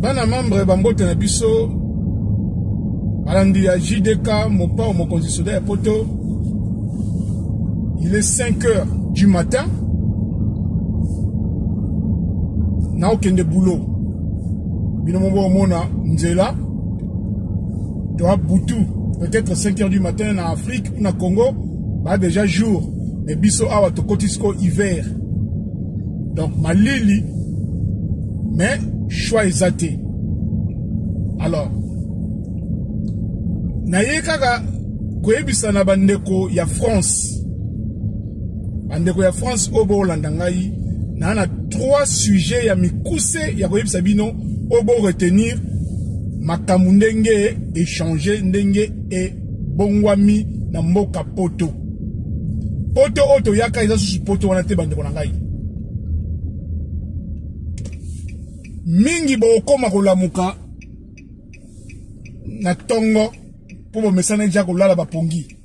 bana membre bambote na biso balandi ya jdk mopao mokonzi soda ya poto il est 5 heures du matin naokende boulot bino moko omona nzela toa butu peut-être 5 heures du matin na afrique na Congo ba déjà jour mais biso awa tokoti siko hiver donc malili mais choix eza te alors naye kaka koyebisa na bandeko ya france bandeko ya france oyo boolanda ngai naa na trois sujet ya mikuse ya koyebisa bino oyo boretenir makambo ndenge echange ndenge e bongwami na mboka poto poto oyo toyaka eza susu poto wana te bandeko na ngai mingi bokokoma kolamuka na ntongo mpo bomesanaki ja kolala bapongi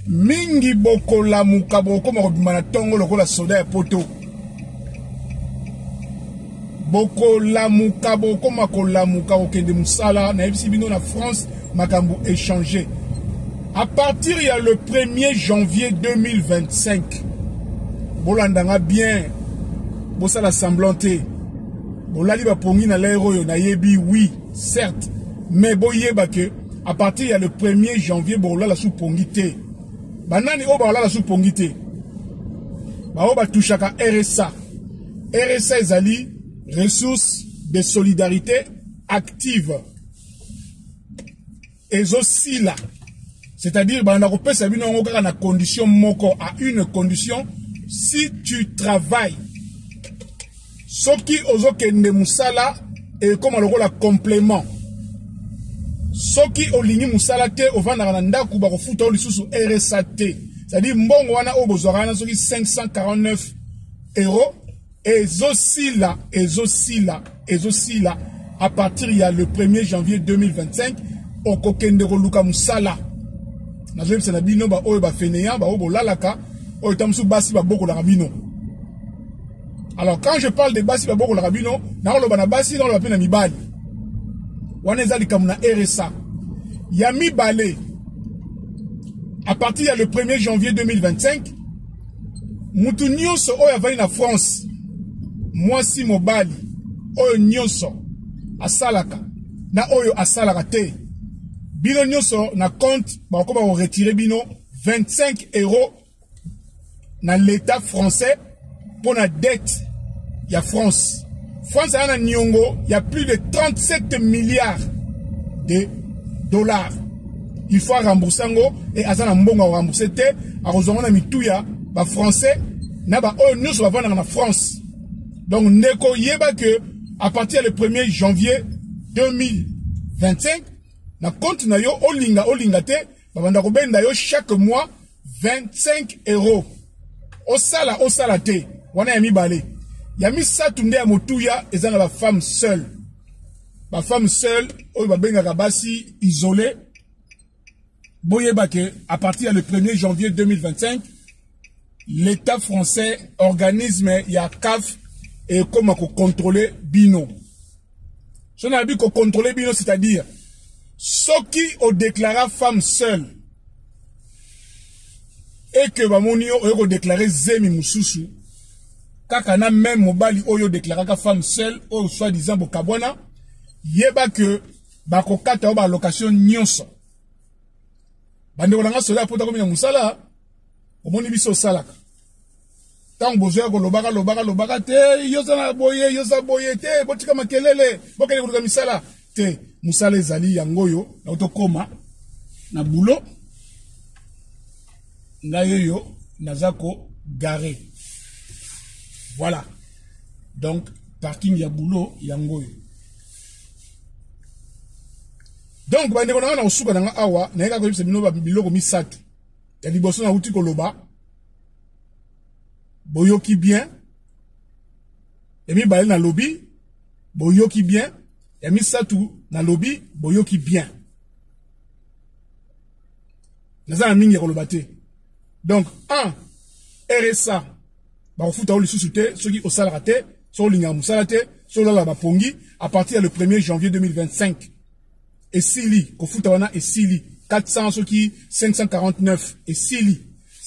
mingi bokolamuka bokokoma kobima na ntongo lokola soda ya poto bokolamuka bokoma kolamuka kokende mosala nayebisi bino na france makambo échange à partir ya le 1er janvier 2025 bolanda nga bien bosala semblant te bolali bapongi na lere oyo nayebi oui certes mais boyeba ke A partir ya le 1er janvier bokolala sous pongi te. Banani oyo bakolala sous pongi te? Baoyo batouchaka RSA. RSA ezali ressources de solidarité active. Ezosila. C'est-à-dire banda kopesa bino yango kaka na condition moko à une condition si tu travailles soki ozokende mosala ekoma lokola complement soki olingi mosala te ovandaka na ndako bakofuta yo lisusu rsa te cestadire mbongo wana oyo bozwaka wana soki 549 euro ezosila ezosila ezosila à partir ya le 1er janvier 2025 okokende koluka mosala nazoyebisa na bino baoyo bafeneya baoyo bolalaka oyo ta mosusu basi babokolaka bino alors quand je parle de basi babokolaka bino nakoloba na basi nakoloba mpe na mibali wana eza likambo na rsa ya mibale à partir ya le 1er janvier 2025 motu nyonso oyo avandi na france mwasi mobali oyo nyonso asalaka na oyo asalaka te bino nyonso na compte bakokoma koretire bino 25 euro na l'État français pour la dette ya France. France a un niongo, il y a plus de 37 milliards de dollars. Il faut rembourser ngo et azana mbongo rembourser te, a kozonga na mituya ba français na ba oyo nyonso bavanda na France. Donc ndeko yeba que à partir le 1er janvier 2025 na compte na yo olinga olinga te babanda kobenda yo chaque mois 25 euro osala osala te wana ya mibale ya misato nde ya motuya eza na bafemme seul bafemme seul oyo babengaka basi isole boyeba ke à partir ya le 1er janvier 2025 l'État français, organisme ya CAF et comme à contrôler Bino. Je n'ai pas contrôler Bino, c'est-à-dire ce qui ont déclaré femme seule et que Bamoni ont déclaré Zemi Moussoussou, Kakana même Mobali Oyo déclaré femme seule, ou soi-disant Bokabwana, yeba que Bakokata Oba location Nyonso. Bande Olanga Sola Pota Komina Moussala, omoni biso osalaka ntango bozoya kolobaka lobaka lobaka te yoza na boye yoza boye te botika makelele bokende koluka misala te mosala ezali yango oyo nao tokóma na bulo ngai oyo naza kogare voilà donc parking ya bulo yango oyo donc bandeko na ngai na kosuka na ngai awa nayekaka koyebisa bino biloko misato ya liboso nauti koloba boyoki bien ya mibale nalobi boyoki bien ya misato nalobi boyoki bien naza na mingi ya koloba te donc un rsa bakofuta yo lisusu te soki osalaka te soki olingaka mosala te soki olalaka bapongi à partir ya le 1er janvier 2025 esili kofuta wana esili 400 soki 549 esili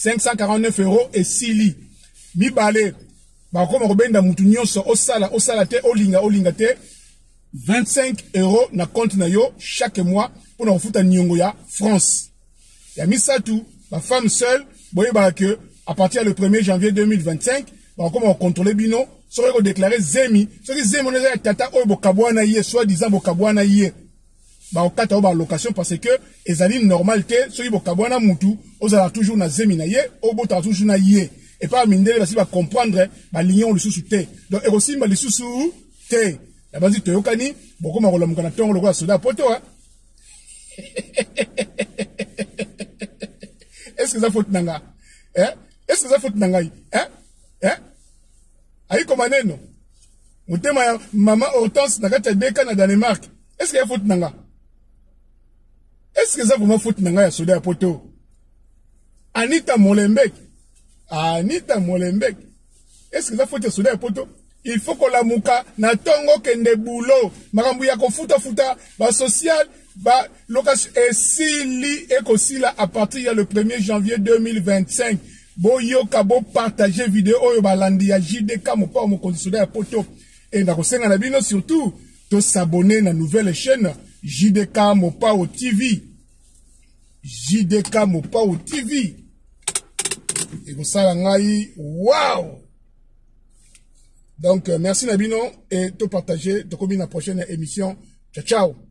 549 euro esili mibale bakoma kobenda mutu nyonso osala osala te olinga olinga te 25 euro na compte na yo chaque mois mpo na kofuta niongo ya france ya misato ba femme seule boyebaka que à partir le 1er janvier 2025 bakokoma kocontrole bino soki kodeklare zemi soki zemi wana eza ya tata oyo bokabwana ye soit disant bokabwana ye bakokata yo balocation parce que ezali normal te soki bokabwana mutu ozalaka toujours na zemi na ye obotaka toujours na ye epai mindele basi bacomprendre balingi yango lisusu te donc ekosimba lisusu te nabanzi toyokani bokoma kolamuka na ntongo lokola soda poto est-ce que eza faute na nga eh? est-ce que eza faute na ngai eh? eh? ayiko maneno motema ya mama hortense na kati ya deka na danemark est-ce que ya faute na nga est-ce que eza vraiment faute na ngai ya soda ya poto anita molembeki anita molembeki est ce que eza foti ya soda ya poto il faut kolamuka na ntongo kende bulo makambo ya kofutafuta basocial ba location esili ekosila à partir ya le 1er janvier 2025 boyoka bopartage video oyo balandi ya jdk mopao mokonzi soda ya poto e nakosenga na bino surtout tosabone na nouvelle chaîne jdk mopao tv JDK Mopao TV ekosala ngai wow donc euh, merci na bino et to partager tokomi na prochaine émission ciao ciao